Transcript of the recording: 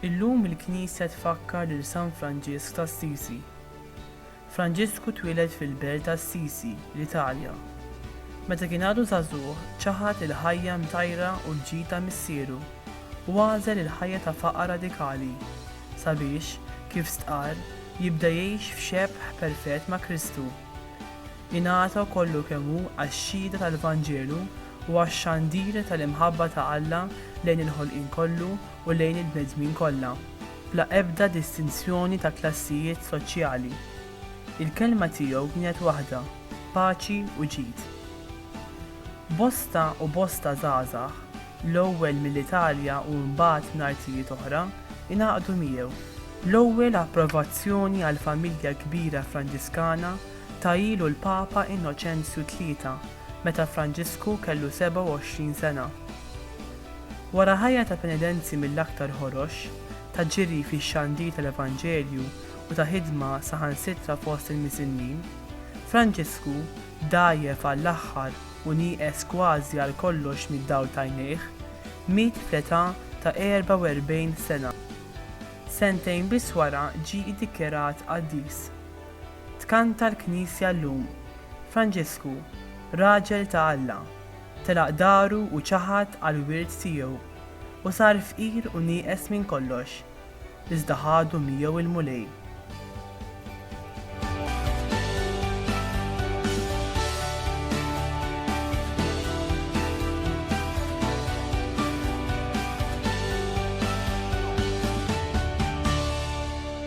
Illum il-Knisja tfakkar lil San Franġisk ta' Assisi. Franġisku twieled fil-belt ta' Assisi, l-Italja. Meta kien għadu żagħżugħ, ċaħad il-ħajja mtajra u l-ġid ta' missieru, u għażel il-ħajja ta' faqar radikali, sabiex, kif stqarr, jibda jgħix f'xebħ perfett ma' Kristu. Ingħata kollu kemm hu għax-xhieda tal-Vanġelu u għax-xandir tal-imħabba ta' Alla lejn il-ħolqien kollu u lejn il-bnedmin kollha. bla ebda distinzjoni ta' klassijiet soċjali. Il-kelma tiegħu kienet waħda, paċi u ġid. Bosta u bosta żgħażagħ, l-ewwel mill-Italja u mbagħad minn artijiet oħra, ingħaqdu miegħu. L-ewwel approvazzjoni għall-familja kbira Franġiskana tahielu l-Papa Innoċenzju Tlieta meta Franġisku kellu 27 sena. Wara ħajja ta' penedenzi mill-aktar ħorox, ta' ġiri fix-xandir tal-Evanġelju u ta' ħidma saħansitra fost il-misinnin, Franġisku dgħajjef għall-aħħar u nieqes kważi għal kollox mid-dawl t'għajnejh, miet fl-età ta' 44 sena. Sentejn biss wara ġie iddikjarat qaddis. Tkanta l-Knisja llum, Franġisku, raġel ta' Alla, telaq daru u ċaħad għall-wirt tiegħu, u sar fqir u nieqes minn kollox, iżda ħadu miegħu l-Mulej.